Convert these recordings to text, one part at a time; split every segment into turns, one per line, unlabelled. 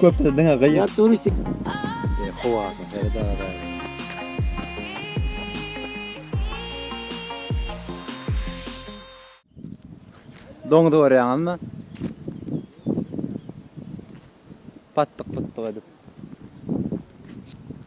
Köpde diňe gyýyk. Ýat turistik.
E, howasy
her daga. Doňuz görýäňizmi? Patdyk-putdyk edip.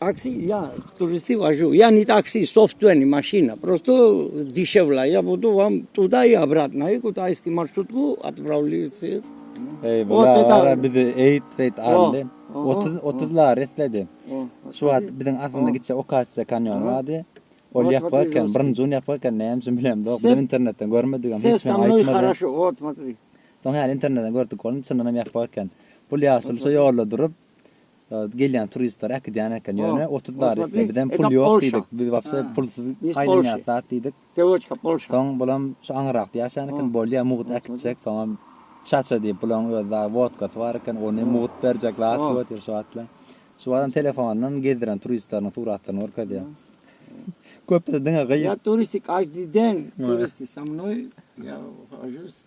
Taksi
ya turisti vaju ya ni taksi software ni maşina prosto dişevla ya budu vam tuda ya obratno ya kuda iski marşrutku atpravli se Ey
bula bizi eýt beýt aldy. 30 30 lar esledi. Şu wagt biziň aslynda gitse Okasya kanýon bardy. Ol ýapyk eken, birinji gün ýapyk eken, näme üçin bilemde, biz internetden görmedigem, hiç kim aýtmady.
Soň häli internetden
gördük, ol çyndanam ýapyk eken. Pul ýaşyl şu ýolda durup, Gelýän turistler äkidýän eken. Ýöne otuz barytly. Bizem pul ýok diýdik. Biz wapse pulsuz aýlanýas zat diýdik. Soň
bulam şu
aňyrrakda ýaşaýan eken. Bolýa mugt äkitjek. Soňam çaça diýip bulaň öz dagy wodkasy bar eken. Ony mugt berjek zat ýok diýip şu wagtla. Şu wagtam telefondan gezdiren turistleriň suratlaryny görkezýär. Köpüsi diňe gyýyk. Ýa turistik aždi
deň. Turisti sa mnoý ýa hojus.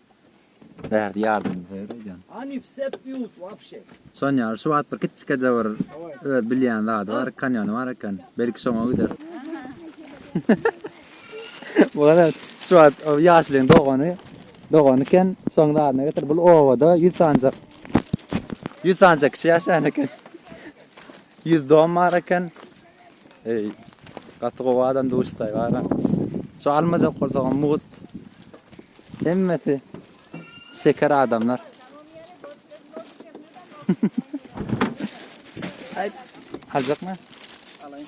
Bärde ýardamyny soýar aýdýan. Any wse pýut
wapşe. Sonýa şu wagt
bir kiçijekje bir öz bilýän zady bar kanýony bar eken belki şoňa gider. Bu garaz şu wagt o ýaşulyň dogany dogany eken şoň zadyna getir bul obada ýüz sanja ýüz sanja kiçi ýaşaýan eken ýüz dom bar eken Eý, gaty gowy adam duşdaý gara. Şu almajak bolsagam mugt. Hemmesi şeker adamlar. Aýt, aljakmy? Alaýyn.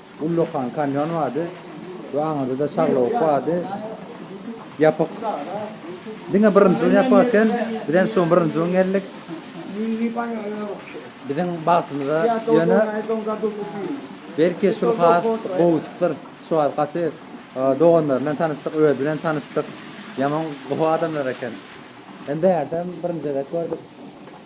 Ullakan kanýon bardy we aňyrda-da şaglawuk bardy. Ýapyk. Diňe birinji gün ýapyk eken. Biz hem şu gün birinji gün geldik. Biziň bagtymyza ýöne belki şul has gowusydyr. Şu wagt gaty doganlar bilen tanyşdyk, özi bilen tanyşdyk. Ýaman gowy adamlar eken. Hem bärde hem birinji gezek gördük.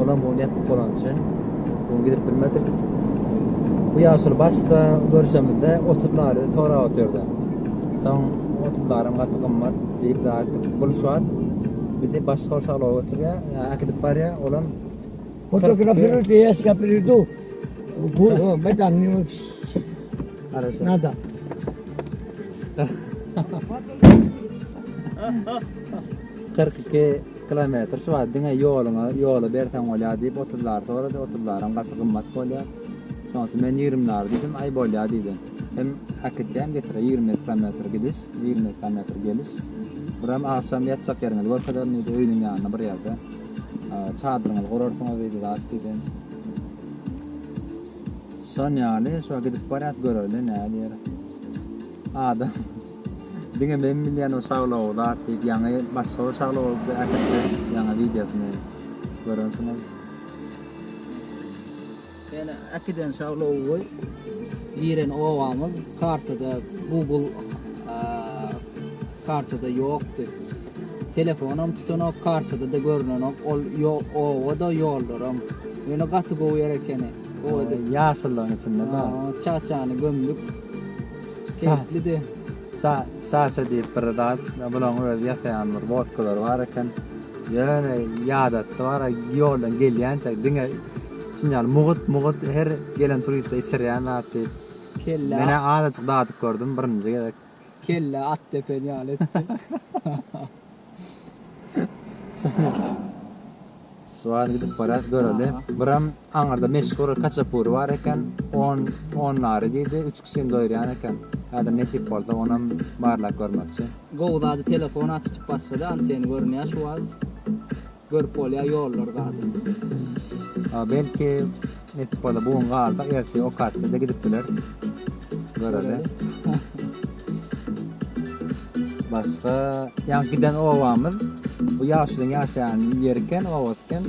Olam bu nepk bolany üçin bu gün gidip bilmedik. Bu ýaşuly başda görüşemizde otuz nary sorap otyrdy. Soň otuz naram gaty gymmat diýip aýtdyk. Bu şu wagt bizi başga bir şagala götürýär, ýa äkidip barýar, olam Fotografiruj
diýýäs ýa pridu. Bu meýdan ýa Garaşýar.
nada. Kyrk iki Iki kilometr şu wagt diňe ýoluňa ýoly berseň bolýar diýip otuz lary sorady, otuz laram gaty gymmat bolýar. Şoň üçin men ýigrimi lary diýdim, aý bolýar diýdi. Hem äkitse hem getirse ýigrimi ýedi kilometr gidiş, ýigrimi ýedi kilometr geliş. Buram agşam ýatjak ýeriňizi görkezerin diýdi, öýüniň ýanynda bir ýerde çadyryňyzy gurarsyňyz diýdi, zat diýdi. Şon ýaly şu wagt gidip barýas göreli nädýer. Adam Diňe men bilýän o şaglow zat diýip ýaňy başga bir şaglowy äkitdi ýaňy wideosyny görensiňiz. Ýöne
äkiden şaglowy giren obamyz kartada google kartada ýokdy. Telefonam tutanok kartadada görnenok ol obada ýollaram. Ýöne gaty gowy ýer ekeni. Gowy edip. Ýaşyllygyň içinde-de.
Çaçany gömdük.
Keýplidi. Ça, Çaça
diýip bir zat, bulaň öz ýasaýan bir wodkalary bar eken. Ýöne ýadatdy bara ýoldan gelýänçä diňe şuny ýaly mugut, mugut her gelen turiste içirýän zat diýip. Kelle. Menä
azajyk
dadyp gördüm birinji gezek. Kelle at
depen ýaly etdi.
Suwar gidip barat göreli. Biram aňyrda meşhur kaçapury bar eken. On, on nari diýdi. Üç kişini doýurýan eken. Häzir nesip bolsa onam barlap görmekçi. Gowy zady telefon
aç tutup basjada anteni görünýä şu wagt. Görüp bolýa ýollar zady. A belki
netip bola bu gün galdyk ertir okatsiýada gidip biler. Göreli. Başga ýaňky giden obamyz bu ýaşulyň ýaşaýan ýeri eken obasy eken.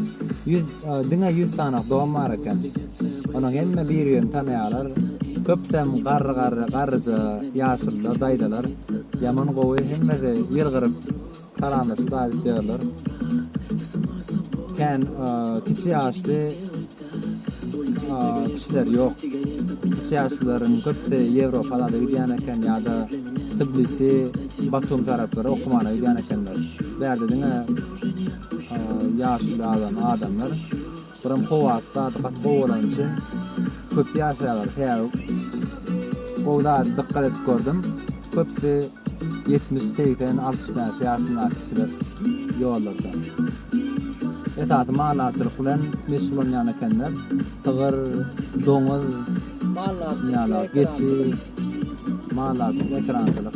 Ýüz diňe ýüz sanak dom bar eken. Onuň hemme bir birini tanaýarlar. Köpüsem garry garry garryja ýaşulylar daýzalar. Ýaman gowy hemmesi ýylgyryp Salamlaşyp aýdyp ýörler. Kän kiçi ýaşly kişiler ýok. Kiçi ýaşlylaryň köpüsi Ýewropalarda gidýän eken ýa-da Tbilisi, Batum taraplara okumana gidýän ekenler. Bärde diňe ýaşuly adam, adamlar. Buram howa gaty gaty gowy bolany üçin köp ýaşaýarlar. Sebäbi gowy zat dykgat edip gördüm. Köpüsi ýetmiş, segsen, altmyş näçe ýaşyndaky kişiler ýollarda. Esasy maldarçylyk bilen meşgullanýan ekenler. Sygyr, doňuz, maldarçylyk,
geçi,
maldarçylyk, ekerançylyk.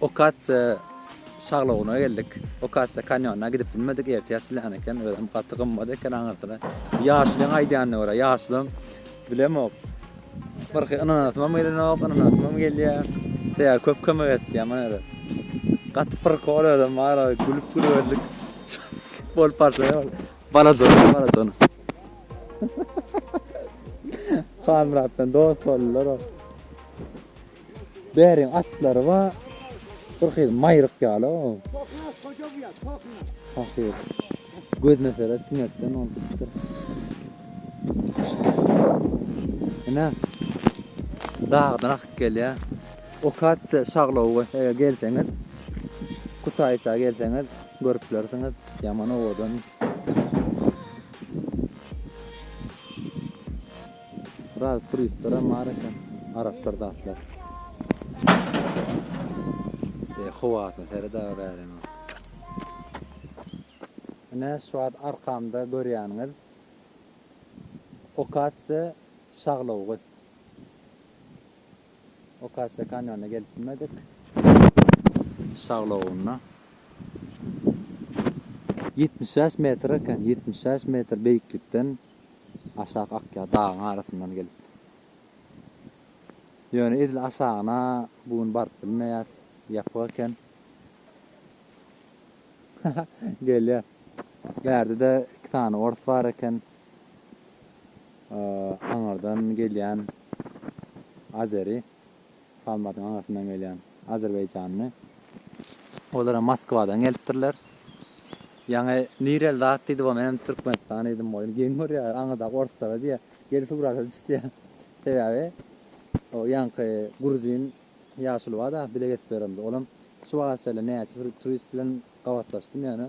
Okasiýa şaglowyna geldik. Okasiýa kanýonyna gidip bilmedik, ertir açylýan eken, özem gaty gymmat eken aňyrsyna. Ýaşulyň aýdýanyna görä, ýaşulam bilemok. Birki ynanasymam gelenok, ynanasymam gelýär. Sebäbi köp kömek etdi ýaman ýere. Gaty prikol özem bar, gülüp gülüberdik. Bolup barsa ol balajana, balajana. Halmyrat bilen dost boldular ol. Bäriň atlary bar. Bir hyl maýryk ýaly o. Hakyr. Gözüne seret, tüňertden ol tutdy. Ene. Dagdan akyp gelýär. Okatsiýa şaglowy eger gelseňiz, Kutaýsa gelseňiz, görüp bilersiňiz. Ýaman owadan. Biraz turistlerem bar eken. Araplar zatlar. Eý howasyna seret aga bäriň aga. Ine şu wagt arkamda görýäniňiz Okasiýa şaglawugy. Okasiýa kanýonyna gelip bilmedik. Şaglawugyna. Ýetmiş bäş metr eken, ýetmiş bäş metr beýiklikden aşak akýar dagyň arasyndan gelip. Ýöne edil aşagyna bu gün baryp bilmeýäs, ýapyk eken. Gelýär. Bärde-de iki sany ors bar eken. Aňyrdan gelýän Azeri Kalmatyň aňyrsyndan gelýän azerbaýjanly. Olara Moskwadan gelipdirler. Ýaňy nireli zat diýdi bo men hem Türkmenistan diýdim goýun geň görýär aňyrdaky orslara diýýär gel surata düş diýýär sebäbi o ýaňky gruzin ýaşuly barda bile gezip ýörendir olam şu wagtça näçe bir turist bilen gabatlaşdym ýöne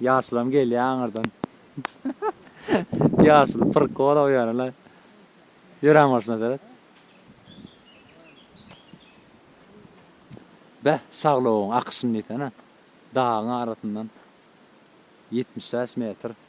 Ýaşulam gelýä aňyrdan. Ýaşul prikol o ýöne la. Ýören bolşuna seret. Beh, şaglogyň akyşyny diýsene. Dagyň arasyndan. Ýetmiş bäş metr.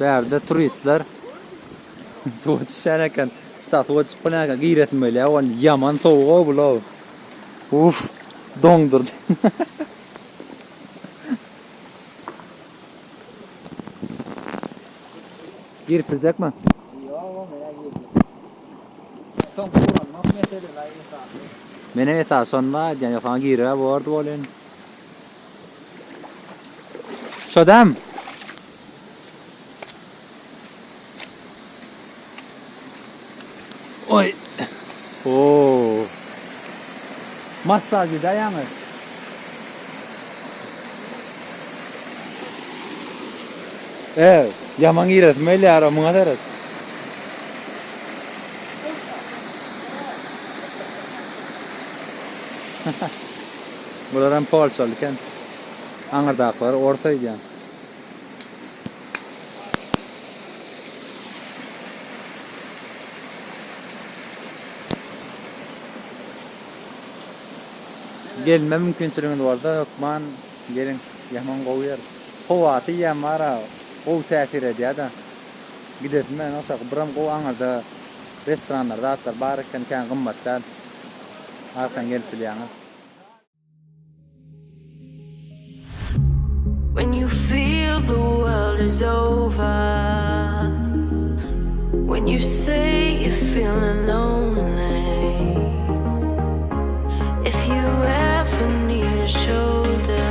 Bärde turistler suwa düşen eken. Şta suwa düşüp bilen eken. Giresin böyle ya. Ol yaman soğuk o bu lo. Uf. Dondurdu. Girip bilecek mi?
Soň guranmak meselesi aý esasy. Menem esasy
şonda aýdýan ýok saňa giribä bordy bolyn. Şodam. Oy. Oo. Massaj ýa ýaňy. Eee, ýaman giresim gelýär-ow, muňa seret. Bular hem polşaly eken. Aňyrdakylar ors öýdýän. Gelme mümkinçiligiňiz bolsa hökman geliň, ýaman gowy ýer. Howaty ýem bara gowy täsir edýäda. Gidesim bilen oçak biram gowy aňyrda restoranlar zatlar bar eken kän gymmat däl. Arkan gelip bilýäňiz.
When you feel the world is over When you say you feelin lonely If you ever need a shoulder